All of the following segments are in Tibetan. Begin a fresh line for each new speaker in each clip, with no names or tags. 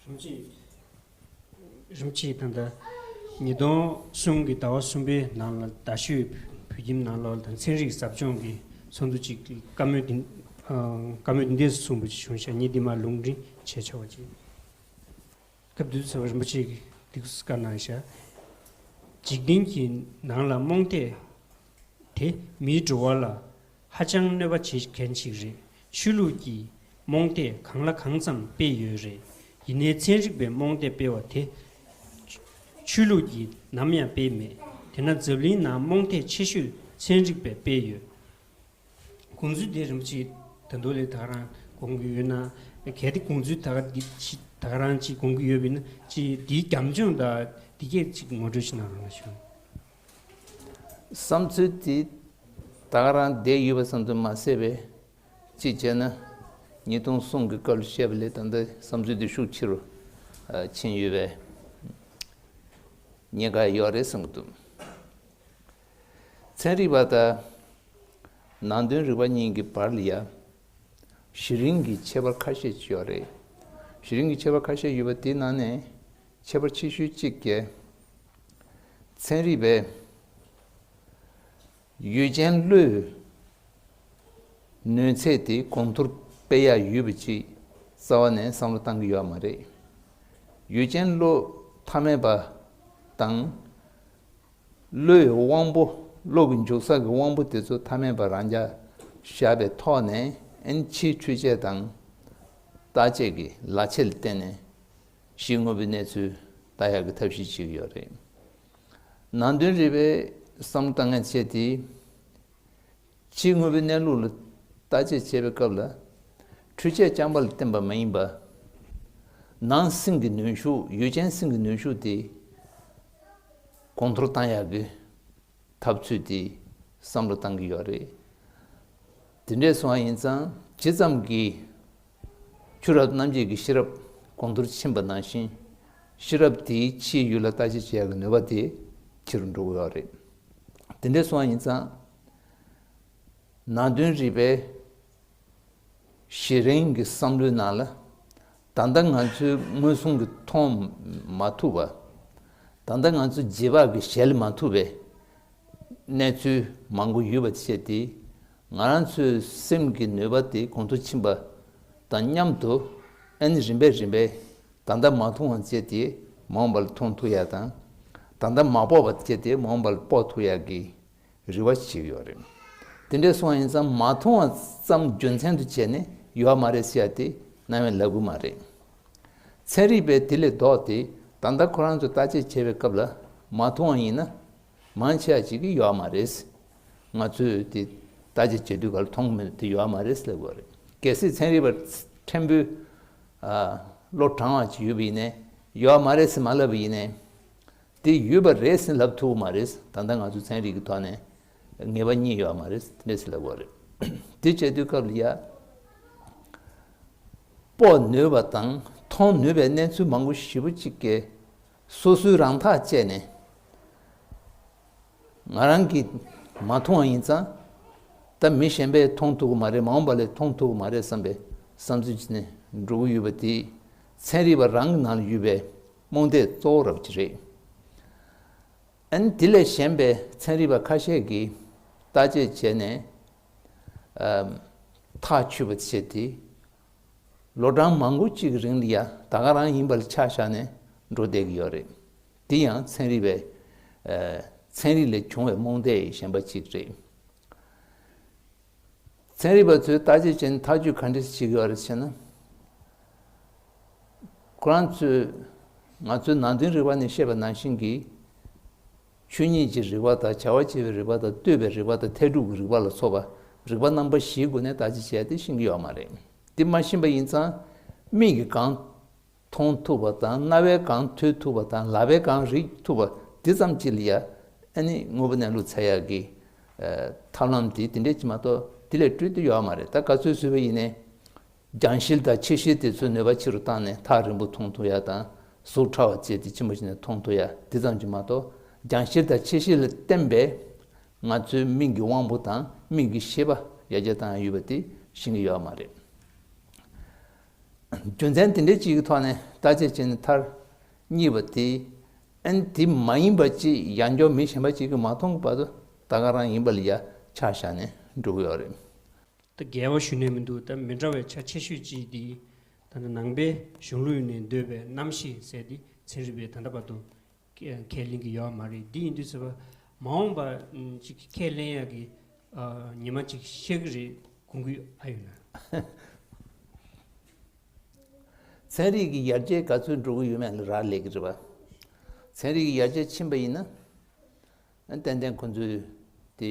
རིམ་གྱིས་དང་ལྟ། ཉིས་སྟོང་གསུམ་གྱི་ཟླ་བ་གསུམ་པའི་ནང་ལ་རྡ་ཤོད་བོད་ཁྱིམ་ནང་ལོགས་དང་ཚན་རིག་ཟབ་སྦྱོང་གི་ཚོགས་འདུ་གཅིག་བཀའ་མོལ་འདི་བཀའ་མོལ་འདི་འདས་སུ་གསུངས་པ་བྱུང་ཞག་ཉིས་འདི་མ་ལུང་འདྲེན་བྱས་ཆོག་ཅིག། སྐབས་དུས་ཚོད་རིན་པོ་ཆེ་གི་སྡིགས་སུ་བཀར་གནང་ཞག། འཇིག་རྟེན་གྱི་ནང་ལ་རྨོངས་དད་དེ་མིའི་འགྲོ་བ་ལ་ཧ་ཅང་གནོད་པ་བྱེད་མཁན་ཞིག་རེད་ཆོས་ལུགས་ཀྱི་རྨོངས་དད་གང་ལ་གང་ཙམ་སྤེལ་ཡོད་རེད་ཡིན་ནའི་ཚན་རིག་པའི་རྨོངས་དད་སྤེལ་བ་དེ། ཆོས་ལུགས་ཀྱིས་ནམ་ཡང་སྤེལ་མེད་དེ་ན་འཛམ་གླིང་ནང་རྨོངས་དད་ཆེ་ཤོས་ཚན་རིག་པས་སྤེལ་ཡོད། དགོངས་ཚུལ་དེ་རིན་པོ་ཆེས་ད་དུང་ལས་དག་རང་དགོངས་ཀྱི་ཡོད་ན། གལ་ཏེ་དགོངས་ཚུལ་དག་འདི་ཕྱི་དག་རང་ཅིས་དགོངས་ཀྱི་ཡོད་པས་ན་ཅིས་དེའི་རྒྱབ་ལྗོངས་དག་འདི་སྐད་ཅིག་ངོ་སྤྲོད་ཕྱི་ནང་རང་ལ་ཞུ། བསམ་
ཚུལ་དེ་དག་རང་བསྡད་ཡོད་པ་ཙམ་དུ་མ་ཟད་པས་གཅིག་བྱས་ན་ཉིས་སྟོང་གསུམ་གྱི་སྐབས་ལ་བཤད་པ་ལས་ད་ལྟའི་བསམ་ཚུལ་དེ་ཤུགས་ཆེ་རུ་ཕྱིན་ཡོད་པས་ཉེན་ཁ་ཡོད་རེད་བསམ་གྱི་འདུག་ཚན་རིག་པ་དང་ནང་དོན་རིག་པ་གཉིས་ཀྱི་བར་ལ་ཡང་གཞི་རིམ་གྱི་ཁྱད་པར་ཁ་ཤས་ཡོད་རེད། གཞི་རིམ་གྱི་ཁྱད་པར་ཁ་ཤས་ཡོད་པ་དེའི་ནང་ནས་ཁྱད་པར་ཆེ་ཤོས་གཅིག་རྒྱལ་ཚན་རིག་པས་ཡུལ་ཅན་གླུའི་ནུས་ཚད་དེ་གོང་མཐོར་སྤེལ་ཡ་ཡོད་པ་ཅིག་རྩ་བ་ནས་བསམ་བློ་བཏང་གི་ཡོད་མ་རེད། ཡུལ་ཅན་གླུ་མཐའ་མེད་པ་དང། གླུའི་དབང་པོ་གླུ་གི་མཇུག་ས་གི་དབང་པོ་དེ་ཚོ་མཐའ་མེད་པ་རང་རྐྱ་བཞག་པའི་ཐོག་ནས་ཨེན་ཆིའི་འཕྲུལ་ཆས་དང་བརྟག་དཔྱད་ཀྱི་ལག་ཆས་ལ་བརྟེན་ནས་ཞིག་དངོས་པོའི་གནས་ཚུལ་ལྟ་ཡག་གི་ཐབས་ཤེས་བྱེད་ཀྱི་ཡོད་རེད། ནང་དོན་རིག་པའི་བསམ་བློ་དཀའ་ངལ་ཆེ་དེ། ཕྱིའི་དངོས་པོའི་གནས་ལུགས་ལ་བལྟ་དཔྱད་བྱེད་པའི་སྐབས་ལ་འཕྲུལ་ཆས་རྐྱང་པ་ལ་བརྟེན་པ་མ་ཡིན་པར། ནང་སེམས་ཀྱི་ནུས་ཤུགས་ཡུལ་ཅན་སེམས་ཀྱི་ནུས་ཤུགས་དེ་གོང་མཐོར་བཏང་ཡག་གི། འཐབ་རྩོད་དེ་བསམ་བློ་བཏང་གི་ཡོད་རེད། དེ་འདྲས་སོང་བ་ཡིན་ཙང་ཇི་ཙམ་གྱིས་ཆུ་རབས་རྣམ་འབྱེད་ཀྱི་ཤེས་རབ་གོང་མཐོར་ཕྱིན་པ་ནང་བཞིན་ཤེས་རབ་དེའི་ཕྱིའི་ཡུལ་ལ་ལྟ་དཔྱད་བྱེད་ཀྱི་ནུས་པ་དེ་ཆེ་རུ་འགྲོ་གི་ཡོད་རེད། དེ་འདྲས་སོང་བ་ཡིན་ཙང་ནང་དོན་རིག་པའི་ཞེས་རང་གི་བསམ་བློའི་ནང་ལ་ད་ལྟ་ང་ཚོའི་དངོས་ཟོང་གི་མཐོང་མ་ཐུབ་པ། ད་ལྟ་ང་ཚོ་རྗེས་དཔག་གི་གཞལ་མ་ཐུབ་པའི་གནས་ཚུལ་མང་པོ་ཡོད་པ་བཅས་དེས་ང་རང་ཚོའི་སེམས་ཀྱི་ནུས་པ་དེ་གོང་དུ་ཕྱིན་པ་དང་མཉམ་དུ་ཨན་རིམ་པས་རིམ་པས་ད་ལྟ་མ་མཐོང་བ་བཅས་དེ་མ་འོངས་པ་ལ་མཐོང་ཐུབ་ཡག་དང། ད་ལྟ་མ་དཔོག་པ་བཅས་དེ་མ་འོངས་པ་ལ་དཔོག་ཐུབ་ཡག་གི་རི་བ་ཞིག་ཡོད་རེད། དེ་འདྲའི་སོང་ཡིན་ཙམ་མ་མཐོང་བ་ཙམ་རྒྱུ་མཚན་དུ་བྱས་ནས་ཡོད་མ་རེད་ཟེར་ཡ་དེ་ནང་བའི་ལབ་གུ་མ་རེད། ཚན་རིག་པས་དེ་ལས་ལྡོག་སྟེ་ད་ལྟ་ཁོ་རང་ཚོ་བརྟག་དཔྱད་བྱེད་པའི་སྐབས་ལ་མ་མཐོང་བ་ཡིན་ན། མང་ཆེ་བ་ཞིག་གིས་ཡོད་མ་རེད། ང་ཚོས་དེ་བརྟག་དཔྱད་བྱེད་དུས་ག་ལ་མཐོང་མེད་དེ་ཡོད་མ་རེད་ཟེར་དགོས་རེད། གལ་སྲིད་ཚན་རིག་པ་ཕྲན་བུ་བློ་དྲང་བ་ཞིག་ཡོད་པ་ཡིན་ནས་ཡོད་མ་རེད་ཟེར་མ་ལབ་པ་ཡིན་ནས། དེ་ཡོད་པ་རེད་ཟིན་ལབ་ཐུབ་མ་རེད་ད་ལྟ་ང་ཚོའི་ཚན་རིག་གི་ཐོག་ནས་ངེས་པ་གཉིས་ཡོད་མ་རེད་དེ་འདྲས་ཟིན་ལབ་དགོས་རེད་དེ་བྱེད་དུས་སྐབས་ལ་ཡག་པོ་ནུས་པ་དང་མཐོང་ནུས་པའི་གནས་ཚུལ་མང་པོ་ཞིབ་པོ་གཅིག་གིས་སོ་སོའི་རང་ཐག་བཅད་ནས་ང་རང་གིས་མ་མཐོང་བ་ཡིན་ཙང་ད་མི་གཞན་པས་མཐོང་ཐུབ་གི་མ་རེད་མ་འོངས་པ་ལས་མཐོང་ཐུབ་གི་མ་རེད་བསམ་པའི་བསམ་ཚུལ་གྱིས་ནས་འགྲོ་གི་ཡོད་པ་དེ་ཚན་རིག་པ་རང་གི་ནང་ལ་ཡོད་པའི་རྨོངས་དད་གཙོ་བོ་རང་གི་རེད། ཨན། དེ་ལས་གཞན་པའི་ཚན་རིག་པ་ཁ་ཤས་ཀྱིས་བརྟག་དཔྱད་བྱས་ནས། ཐག་ཆོད་པ་བྱས་ཏེ། ལོ་གྲངས་མང་པོ་གཅིག་གི་རིང་ལ་ཡ་ད་ག་རང་ཡིན་པ་ལ་ཆ་བཞག་ནས་འགྲོ་བསྡད་ཀྱི་ཡོད་རེད། འདི་ཡང་ཚན་རིག་པའི། ཚན་རིག་ལས་བྱུང་བའི་རྨོངས་དད་ཡི་ཞེན་པ་གཅིག་རེད། ཚན་རིག་པ་ཚོས་བརྟག་དཔྱད་བྱས་ནས་ཐག་གཅོད་ག་འདྲ་ཞིག་ཡོད་རེད་ཟེར་ན། ཁོ་རང་ཚོས་ང་ཚོའི་ནང་དོན་རིག་པ་ནི་ཤེས་པ་ནང་བཞིན་གྱི་ཆོས་ཉིད་ཀྱི་རིག་པ་དང་བྱ་བ་བྱེད་པའི་རིག་པ་དང་ལྟོས་པའི་རིག་པ་དང་ཐལ་དྲུག་གི་རིག་པ་ལ་སོགས་པ་རིག་པ་རྣམ་པ་བཞིའི་སྒོ་ནས་བརྟག་དཔྱད་བྱས་ཏེ་ཤེས་ཀྱི་ཡོད་མ་རེད། འདི་མ་ཤེས་པ་ཡིན་ཙང་མིག་གིས་གང་མཐོང་ཐུབ་པ་དང་རྣ་བས་གང་ཐོས་ཐུབ་པ་དང་ལག་པས་གང་རིག་ཐུབ་པ་འདི་ཙམ་གྱིས་ལ་ཡ་ཨེ་ནི་དངོས་པོ་གནས་ལུགས་ཚད་ཡག་གི་ཐབས་ལམ་དེ་འདི་འདྲས་ཀྱིས་མ་གཏོགས་དེ་ལས་སྤྲོས་ཏེ་ཡོད་མ་རེད་ད་ག་ཚོད་བཟོས་པ་ཡིན་ནའི་རྒྱང་ཤེལ་དང་ཕྱེད་ཤེལ་དེ་ཚོའི་ནུས་པ་ཆེ་རུ་བཏང་ནས་ཐག་རིང་པོ་མཐོང་ཐུབ་ཡ་དང་གཟུགས་ཕྲ་བ་བརྩེགས་ཏེ་ལྕི་མོ་བྱས་ནས་མཐོང་ཐུབ་ཡ་འདི་ཙམ་གྱིས་མ་གཏོགས་རྒྱང་ཤེལ་དང་ཕྱེད་ཤེལ་ལ་བརྟེན་པས་ང་ཚོའི་མིག་གི་དབང་པོ་དང་མིག་གི་ཤེས་པ་ཡར་རྒྱས་བཏང་ཡོད་པ་དེ་ཤེས་ཀྱི་ཡོད་པ་མ་རེད། རྒྱུ་མཚན་དེ་འདྲའི་གཅིག་གི་ཐོག་ནས་བརྟག་དཔྱད་བྱས་ནས་མཐར་གཉིས་པ་དེ་ཨན་དེ་མ་ཡིན་པ་ཅི་ཡ་འཇོག་མི་གཞན་པ་གཅིག་གིས་མ་མཐོང་གི་བར་དུ་ད་ག་རང་ཡིན་པ་ལ་ཡ་ཆགས་བཞག་ནས་འགྲོ་གི་ཡོད་རེད། ད་རྒྱལ་
བ་ཞུ་ནས་མི་འདུག་ད་མི་འདྲ་བའི་ཆ་ཆེ་ཤོས་ཅིག་འདི་ད་ལྟ་ནང་པའི་གཞུང་ལུགས་ནས་འདོད་པའི་རྣམ་ཤེས་ཟེར་ཏེ་ཚན་རིག་པས་ད་ལྟ་བར་དུ་ཁས་ལེན་གྱི་ཡོད་མ་རེད་འདི་ཡིན་དུས་ཟེར་བ་མ་འོངས་པ་ཅིག་ཁས་ལེན་ཡག་གི་ཉི་མ་ཅིག་ཤར་གི་རེད་གུ་གུ་ཨ་ཡོད་ན།
ཚན་རིག་གི་ཡར་རྒྱས་ག་ཚོད་འགྲོ་གི་ཡོད་མེད་ལ་རག་ལས་ཀྱི་རེད་བ། ཚན་རིག་གི་ཡར་རྒྱས་ཕྱིན་པ་ཡིན་ན་ཏན་ཏན་ཁོ་ཚོས་དེ།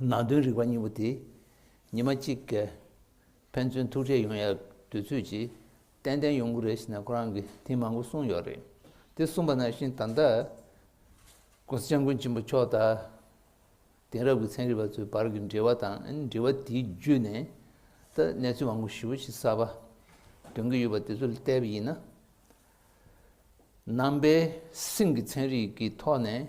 ནང་དོན་རིག་པ་གཉིས་པོ་དེ་ཉི་མ་གཅིག་གི་ཕན་ཚུན་ཐུག་འཕྲད་ཡོང་ཡ་དུས་ཚོད་ཀྱིས་ཏན་ཏན་ཡོང་གི་རེད་ཞེས་ནང་ཁོ་རང་གིས་ཐེངས་མང་པོ་གསུངས་ཡོད་རེད་དེ་གསུངས་པ་ནང་བཞིན་ད་ལྟ ྋགོང་ས་སྐྱབས་མགོན་ཆེན་པོ་མཆོག་དང་དེང་རབས་ཀྱི་ཚན་རིག་པ་ཚོའི་བར་གྱི་འབྲེལ་བ་དང་འབྲེལ་བ་དེའི་བརྒྱུད་ནས་ད་ལྟ་གནས་ཚུལ་མང་པོ་ཞིབ་པོ་ཞིག་གསར་པ་འདོན་གྱི་ཡོད་པ་དེ་ཚོ་བལྟས་པ་ཡིན་ན་ནང་པའི་སེམས་ཀྱི་ཚན་རིག་གི་ཐོག་ནས་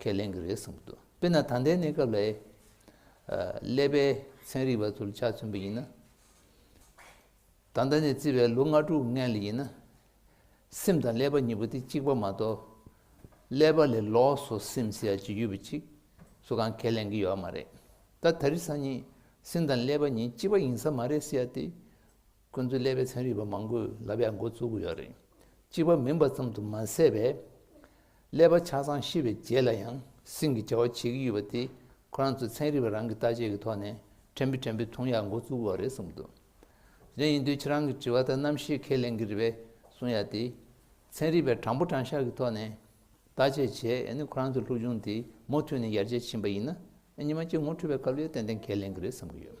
ཁས་ལེན་གྱི་རེད་བསམ་གྱི་འདུག་དཔེར་ན་ད་ལྟའི་གནས་སྐབས་ལས་ཀླད་པའི་ཚན་རིག་པ་ཚོར་ཆ་མཚོན་པ་ཡིན་ན། ད་ལྟ་ནས་བརྩིས་པའི་ལོ་ལྔ་དྲུག་ལྔའི་ལས་ཡིན་ན། སེམས་དང་ཀླད་པ་གཉིས་པོ་དེ་གཅིག་པ་མ་གཏོགས། ཀླད་པ་ལས་ལོགས་སུ་སེམས་ཟེར་ཡ་ཇི་ཡོད་པ་ཅིག་སུ་གང་ཁས་ལེན་གྱི་ཡོད་མ་རེད། ད་ད་རི་སང་ཉིད་སེམས་དང་ཀླད་པ་གཉིས་གཅིག་པ་ཡིན་ས་མ་རེད་ཟེར་ཡ་དེ། ཁོ་ཚོའི་ཀླད་པའི་ཚན་རིག་པ་མང་པོས་ལབ་ཡག་མགོ་བཙུགས་ཡོད་རེད། གཅིག་པ་མིན་པ་ཙམ་དུ་མ་ཟད་པས། ཀླད་པ་ཆ་ཚང་ཤི་བའི་རྗེས་ལ་ཡང་སྲིང་གི་བྱ་བ་བྱེད་ཀྱི་ཡོད་པ་དེ་ཁོ་རང་ཚོའི་ཚན་རིག་པ་རང་གི་བརྟག་དཔྱད་ཀྱི་ཐོག་ནས་ཕྲན་བུ་ཕྲན་བུ་མཐོང་ཡག་མགོ་བཙུགས་བ་རེད་གསུངས་འདུག་གཞན་ཡིན་དུས་ཁྱེད་རང་གི་དྲི་བ་དག་རྣམ་ཤེས་ཁས་ལེན་གྱི་རེད་པས་གསུངས་ཡག་དེ། ཚན་རིག་པས་དྲང་པོ་དྲང་ཤར་གྱི་ཐོག་ནས། བརྟག་དཔྱད་བྱས་ཡས་ནི་ཁོ་རང་ཚོའི་ལྷུག་ཆུང་དེ་མུ་མཐུད་ནས་ཡར་རྒྱས་ཕྱིན་པ་ཡིན་ན་ཉི་མ་སྐྱིད་ངོ་འཕྲོད་པའི་སྐབས་ལས་ཏན་ཏན་གལ་ལེན་གི་རེད་བསམ་གི་ཡོད།